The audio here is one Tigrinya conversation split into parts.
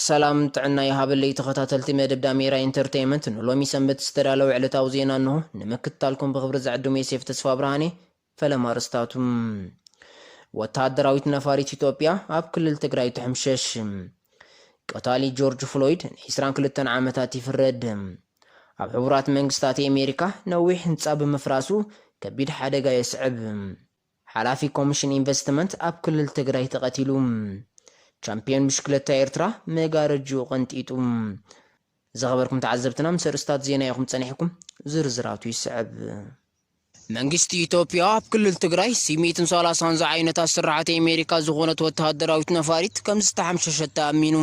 ሰላም ጥዕና ይሃበለይ ተኸታተልቲ መደብ ዳሜራ ኢንተርተይመንት ንሎሚ ሰንበት ዝተዳለወ ዕለታዊ ዜና እንሆ ንምክትታልኩም ብኽብሪ ዝዕድም ዮሴፍ ተስፋብርሃኔ ፈለማ ኣርእስታቱ ወተሃደራዊት ነፋሪት ኢትዮጵያ ኣብ ክልል ትግራይ ትሕምሸሽ ቀታሊ ጆርጅ ፍሎይድ ን ዕስራን ክልተን ዓመታት ይፍረድ ኣብ ሕቡራት መንግስታት ኣሜሪካ ነዊሕ ህንጻ ብምፍራሱ ከቢድ ሓደጋ የስዕብ ሓላፊ ኮሚሽን ኢንቨስትመንት ኣብ ክልል ትግራይ ተቐቲሉ። ቻምፕዮን ብሽክለታ ኤርትራ መጋረጅኡ ቀንጢጡ። ዝኸበርኩም ተዓዘብትና ምስ ኣርእስታት ዜና ኢኹም ጸኒሕኩም፣ ዝርዝራቱ ይስዕብ። መንግስቲ ኢትዮጵያ ኣብ ክልል ትግራይ ሲ ሚእቲ ን ሰላሳን ዝዓይነታ ስርሓት ኤሜሪካ ዝኾነት ወተሃደራዊት ነፋሪት ከምዝተሓምሸሸታ ኣሚኑ።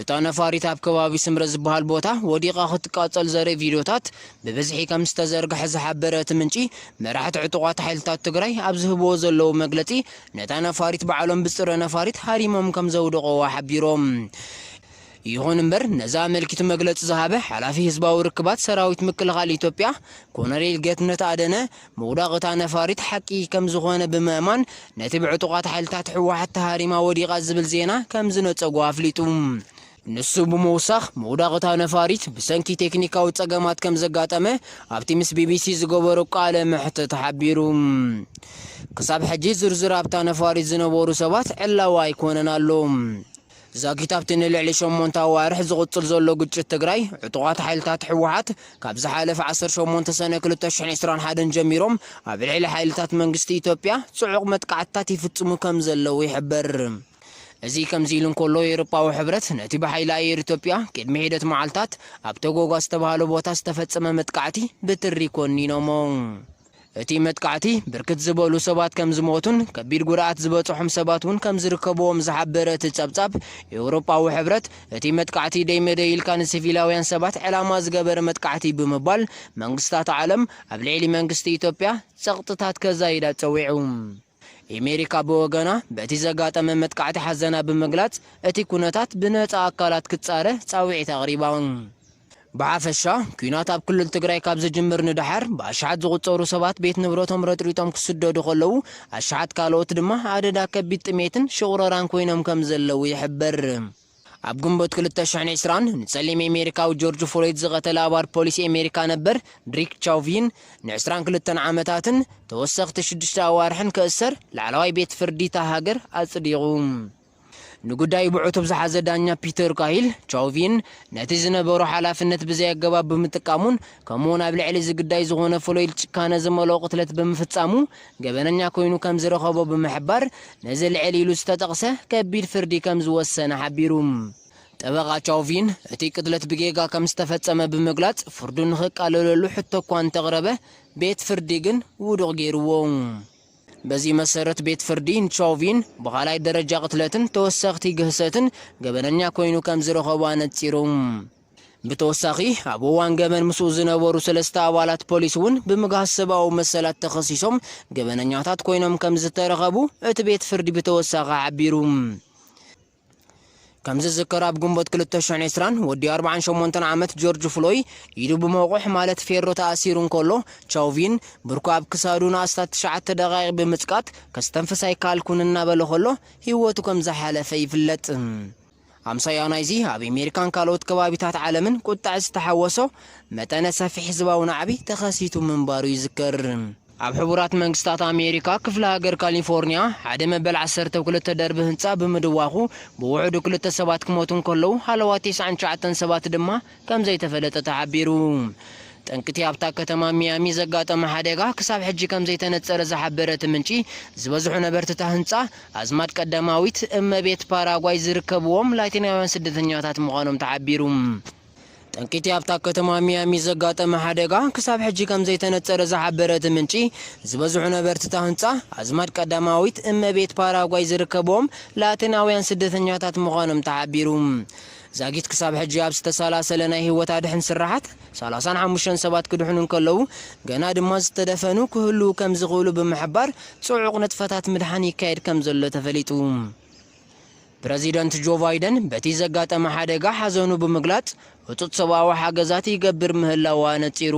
እታ ነፋሪት ኣብ ከባቢ ስምረ ዝበሃል ቦታ ወዲቓ ክትቃጸል ዘርኢ ቪድዮታት ብብዝሒ ከምዝተዘርግሐ ዝሓበረ እቲ ምንጪ፣ መራሕቲ ዕጡቓት ሓይልታት ትግራይ ኣብ ዝህብዎ ዘለዉ መግለጺ፣ ነታ ነፋሪት ባዕሎም ብጽረ ነፋሪት ሃሪሞም ከምዘውደቑዋ ሓቢሮም። ይኹን እምበር ነዚ ኣመልኪቱ መግለጺ ዝሃበ ሓላፊ ህዝባዊ ርክባት ሰራዊት ምክልኻል ኢትዮጵያ ኮሎኔል ጌትነት ኣደነ፣ ምውዳቕ እታ ነፋሪት ሓቂ ከምዝኾነ ብምእማን፣ ነቲ ብዕጡቓት ሓይልታት ህወሓት ተሃሪማ ወዲቓ ዝብል ዜና ከምዝነጸጎ ኣፍሊጡ። ንሱ ብምውሳኽ፣ ምውዳቕ እታ ነፋሪት ብሰንኪ ቴክኒካዊ ጸገማት ከም ዘጋጠመ ኣብቲ ምስ ቢቢሲ ዝገበሮ ቃለ መሕትት ሓቢሩ። ክሳብ ሕጂ ዝርዝር ኣብታ ነፋሪት ዝነበሩ ሰባት ዕላዊ ኣይኰነን ኣሎ። ዛጊት ኣብቲ ንልዕሊ ሸሞንተ ኣዋርሕ ዝቕጽል ዘሎ ግጭት ትግራይ፣ ዕጡቓት ሓይልታት ህወሓት ካብ ዝሓለፈ ዓሰርተ ሸሞንተ ሰነ ክልተ ሽሕን ዕስራን ሓደን ጀሚሮም ኣብ ልዕሊ ሓይልታት መንግስቲ ኢትዮጵያ ጽዑቕ መጥቃዕትታት ይፍጽሙ ከም ዘለዉ ይሕበር። እዚ ከምዚ ኢሉ እንከሎ ኤውሮጳዊ ሕብረት ነቲ ብሓይሊ ኣየር ኢትዮጵያ ቅድሚ ሒደት መዓልታት ኣብ ቶጎጋ ዝተባህለ ቦታ ዝተፈጸመ መጥቃዕቲ ብትሪ ኮኒኖሞ። እቲ መጥቃዕቲ ብርክት ዝበሉ ሰባት ከምዝሞቱን ከቢድ ጉድኣት ዝበጽሖም ሰባት እውን ከምዝርከብዎም ዝሓበረ እቲ ጸብጻብ ኤውሮጳዊ ሕብረት እቲ መጥቃዕቲ ደይ መደይ ኢልካ ንሲቪላውያን ሰባት ዕላማ ዝገበረ መጥቃዕቲ ብምባል መንግስታት ዓለም ኣብ ልዕሊ መንግስቲ ኢትዮጵያ ጸቕጥታት ከዛይዳ ጸዊዑ። ኤሜሪካ ብወገና በቲ ዘጋጠመ መጥቃዕቲ ሓዘና ብምግላጽ እቲ ኩነታት ብነጻ ኣካላት ክጻረ ጻውዒት ኣቕሪባ። ብሓፈሻ ኲናት ኣብ ክልል ትግራይ ካብ ዝጅምር ንደሓር ብኣሽሓት ዝቑጸሩ ሰባት ቤት ንብረቶም ረጥሪጦም ክስደዱ ከለዉ ኣሽሓት ካልኦት ድማ ኣደዳ ከቢድ ጥሜትን ሽቑረራን ኮይኖም ከምዘለዉ ይሕበር። ኣብ ግንቦት ክልተ ሽሕን ዕስራን ንጸሊም ኤሜሪካዊ ጆርጅ ፍሎይድ ዝቐተለ ኣባል ፖሊስ ኤሜሪካ ነበር ድሪክ ቻውቪን ንዕስራን ክልተን ዓመታትን ተወሰኽቲ ሽዱሽተ ኣዋርሕን ክእሰር ላዕለዋይ ቤት ፍርዲ እታ ሃገር ኣጽዲቑ። ንጉዳዩ ብዕቱብ ዝሓዘ ዳኛ ፒተር ካሂል፣ ቻውቪን ነቲ ዝነበሮ ሓላፍነት ብዘይ ኣገባብ ብምጥቃሙን ከምኡ'ውን ኣብ ልዕሊ እዚ ግዳይ ዝኾነ ፍሎይድ ጭካነ ዝመልኦ ቅትለት ብምፍጻሙ ገበነኛ ኮይኑ ከም ዝረኸቦ ብምሕባር፣ ነዚ ልዕል ኢሉ ዝተጠቕሰ ከቢድ ፍርዲ ከም ዝወሰነ ሓቢሩ። ጠበቓ ቻውቪን፣ እቲ ቅትለት ብጌጋ ከም ዝተፈጸመ ብምግላጽ ፍርዱ ንኽቃለለሉ ሕቶ እኳ እንተቕረበ፣ ቤት ፍርዲ ግን ውዱቕ ገይሩዎ። በዚ መሰረት ቤት ፍርዲ ንቻውቪን ብኻልኣይ ደረጃ ቅትለትን ተወሰኽቲ ግህሰትን ገበነኛ ኮይኑ ከም ዝረኸቦ ኣነጺሩ። ብተወሳኺ ኣብ እዋን ገበን ምስኡ ዝነበሩ ሰለስተ ኣባላት ፖሊስ እውን ብምግሃስ ሰብኣዊ መሰላት ተኸሲሶም ገበነኛታት ኮይኖም ከምዝተረኸቡ እቲ ቤት ፍርዲ ብተወሳኺ ሓቢሩ። ከምዝዝከር ኣብ ግንቦት ክልተ ሽሕን ዕስራን ወዲ ኣርብዓን ሸሞንተን ዓመት ጆርጅ ፍሎይ ኢዱ ብመቑሕ ማለት ፌሮ ተኣሲሩ እንከሎ ቻውቪን ብርኩ ኣብ ክሳዱ ንኣስታት ትሽዓተ ደቓይቕ ብምጽቃጥ ከስተንፍስ ኣይከኣልኩን እናበለ ከሎ ህይወቱ ከምዝሓለፈ ይፍለጥ። ኣምሳያ ናይዚ ኣብ ኤሜሪካን ካልኦት ከባቢታት ዓለምን ቁጠዐ ዝተሓወሶ መጠነ ሰፊሕ ህዝባዊ ናዕቢ ተኸሲቱ ምንባሩ ይዝከር። ኣብ ሕቡራት መንግስታት ኣሜሪካ ክፍለ ሃገር ካሊፎርኒያ ሓደ መበል ዓሰርተ ክልተ ደርቢ ህንጻ ብምድዋኹ ብውሑዱ ክልተ ሰባት ክሞቱ እንከለዉ ሃለዋት ተስዓን ትሽዓተን ሰባት ድማ ከምዘይተፈለጠ ተሓቢሩ። ጠንቂ'ቲ ኣብታ ከተማ ሚያሚ ዘጋጠመ ሓደጋ ክሳብ ሕጂ ከምዘይተነጸረ ዝሓበረ እቲ ምንጪ፣ ዝበዝሑ ነበርቲ'ታ ህንጻ፣ ኣዝማድ ቀዳማዊት እመቤት ፓራጓይ ዝርከብዎም ላቲናውያን ስደተኛታት ምዃኖም ተሓቢሩ። ጠንቂ'ቲ ኣብታ ከተማ ሚያሚ ዘጋጠመ ሓደጋ ክሳብ ሕጂ ከምዘይተነጸረ ዝሓበረ እቲ ምንጪ፣ ዝበዝሑ ነበርቲ'ታ ህንጻ፣ ኣዝማድ ቀዳማዊት እመቤት ፓራጓይ ዝርከብዎም ላቲናውያን ስደተኛታት ምዃኖም ተሓቢሩ። ዛጊት ክሳብ ሕጂ ኣብ ዝተሰላሰለ ናይ ህይወት ኣድሕን ስርሓት፣ ሰላሳን ሓሙሽተን ሰባት ክድሕኑ እንከለዉ፣ ገና ድማ ዝተደፈኑ ክህልዉ ከምዝኽእሉ ብምሕባር ጽዑቕ ንጥፈታት ምድሓን ይካየድ ከምዘሎ ተፈሊጡ። ፕረዚደንት ጆ ባይደን በቲ ዘጋጠመ ሓደጋ ሓዘኑ ብምግላጽ፣ ህጹጽ ሰብኣዊ ሓገዛት ይገብር ምህላዉ ኣነጺሩ።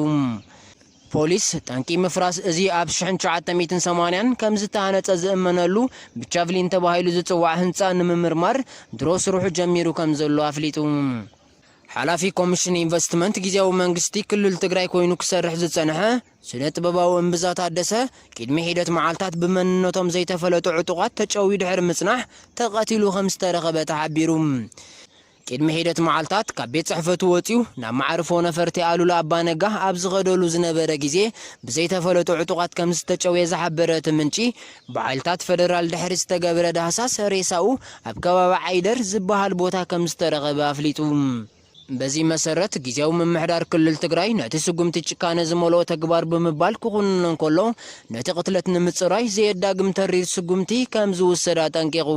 ፖሊስ፣ ጠንቂ ምፍራስ እዚ ኣብ ሽሕን ትሽዓተ ሚእትን ሰማንያን ከም ዝተሃነጸ ዝእመነሉ ብቻቭሊን ተባሂሉ ዝጽዋዕ ህንጻ ንምምርማር ድሮ ስርሑ ጀሚሩ ከም ዘሎ ኣፍሊጡ። ሓላፊ ኮሚሽን ኢንቨስትመንት ግዝያዊ መንግስቲ ክልል ትግራይ ኮይኑ ክሰርሕ ዝጸንሐ ስነ-ጥበባዊ እምብዛ ታደሰ፣ ቂድሚ ሒደት መዓልታት ብመንነቶም ዘይተፈለጡ ዕጡቓት ተጨውዩ ድሕሪ ምጽናሕ ተቐቲሉ ከም ዝተረኸበ ተሓቢሩ። ቅድሚ ሒደት መዓልታት ካብ ቤት ጽሕፈቱ ወጺኡ ናብ መዓርፎ ነፈርቲ ኣሉላ ኣባ ነጋ ኣብ ዝኸደሉ ዝነበረ ግዜ ብዘይተፈለጡ ዕጡቓት ከምዝተጨውየ ዝሓበረ እቲ ምንጪ፣ ብሓይልታት ፈደራል ድሕሪ ዝተገብረ ዳህሳስ ሬሳኡ ኣብ ከባቢ ዓይደር ዝበሃል ቦታ ከምዝተረኸበ ኣፍሊጡ። በዚ መሰረት ግዝያዊ ምምሕዳር ክልል ትግራይ ነቲ ስጉምቲ ጭካነ ዝመልኦ ተግባር ብምባል ክኹንኖ እንከሎ፣ ነቲ ቅትለት ንምጽራይ ዘየዳግም ተሪር ስጉምቲ ከምዝውሰድ ኣጠንቂቑ።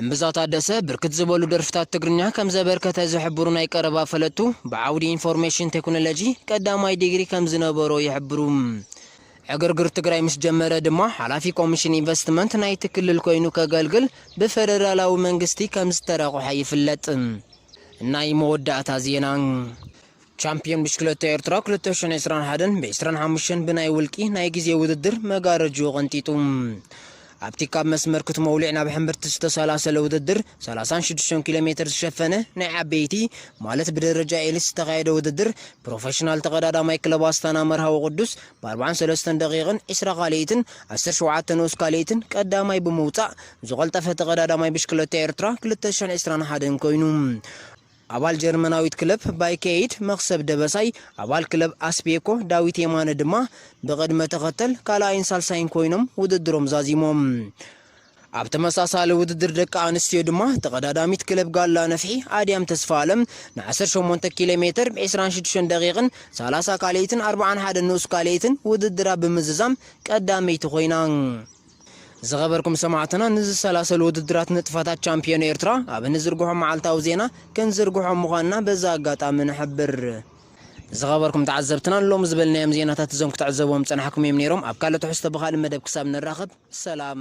እምብዛ ታደሰ ብርክት ዝበሉ ደርፍታት ትግርኛ ከም ዘበርከተ ዝሕብሩ ናይ ቀረባ ፈለጥቱ፣ ብዓውዲ ኢንፎርሜሽን ቴክኖሎጂ ቀዳማይ ዲግሪ ከም ዝነበሮ ይሕብሩ። ዕግርግር ትግራይ ምስ ጀመረ ድማ ሓላፊ ኮሚሽን ኢንቨስትመንት ናይቲ ክልል ኮይኑ ከገልግል ብፈደራላዊ መንግስቲ ከም ዝተረቝሐ ይፍለጥ። ናይ መወዳእታ ዜና። ቻምፕዮን ብሽክለታ ኤርትራ ክልተ ሽሕን ዕስራን ሓደን ብዕስራን ሓሙሽተን ብናይ ውልቂ ናይ ግዜ ውድድር መጋረጅኡ ቀንጢጡ። ኣብቲ ካብ መስመር ክትመውሊዕ ናብ ሕምብርቲ ዝተሰላሰለ ውድድር ሰላሳን ሽዱሽተን ኪሎ ሜተር ዝሸፈነ ናይ ዓበይቲ ማለት ብደረጃ ኤሊት ዝተኻየደ ውድድር ፕሮፈሽናል ተቐዳዳማይ ክለብ ኣስታና መርሃዊ ቅዱስ ብኣርብዓን ሰለስተን ደቒቕን ዕስራ ካልኢትን ዓሰርተ ሸውዓተ ንኡስ ካልኢትን ቀዳማይ ብምውጻእ ዝቐልጠፈ ተቐዳዳማይ ብሽክለታ ኤርትራ ክልተ ሽሕን ዕስራን ሓደን ኮይኑ ኣባል ጀርመናዊት ክለብ ባይከኤይድ መኽሰብ ደበሳይ፣ ኣባል ክለብ ኣስቤኮ ዳዊት የማነ ድማ ብቕድመ ተኸተል ካልኣይን ሳልሳይን ኮይኖም ውድድሮም ዛዚሞም። ኣብ ተመሳሳሊ ውድድር ደቂ ኣንስትዮ ድማ ተቐዳዳሚት ክለብ ጋላ ነፍሒ ኣድያም ተስፋኣለም ን ዓሰርተ ሸሞንተ ኪሎ ሜተር ብ ዕስራን ሽዱሽተን ደቒቕን ሰላሳ ካልኣይትን ኣርብዓን ሓደን ንኡስ ካልኣይትን ውድድራ ብምዝዛም ቀዳመይቲ ኮይና። ዝኸበርኩም ሰማዕትና ንዝሰላሰሉ ውድድራት ንጥፈታት ቻምፕዮን ኤርትራ ኣብ እንዝርግሖ መዓልታዊ ዜና ክንዝርግሖ ምዃንና በዚ ኣጋጣሚ ንሕብር። ዝኸበርኩም ተዓዘብትናን ሎሚ ዝበልናዮም ዜናታት እዞም ክትዕዘብዎም ዝጸናሕኩም እዮም ነይሮም። ኣብ ካልእ ትሕዝቶ ብኻልእ መደብ ክሳብ ንራኸብ ሰላም።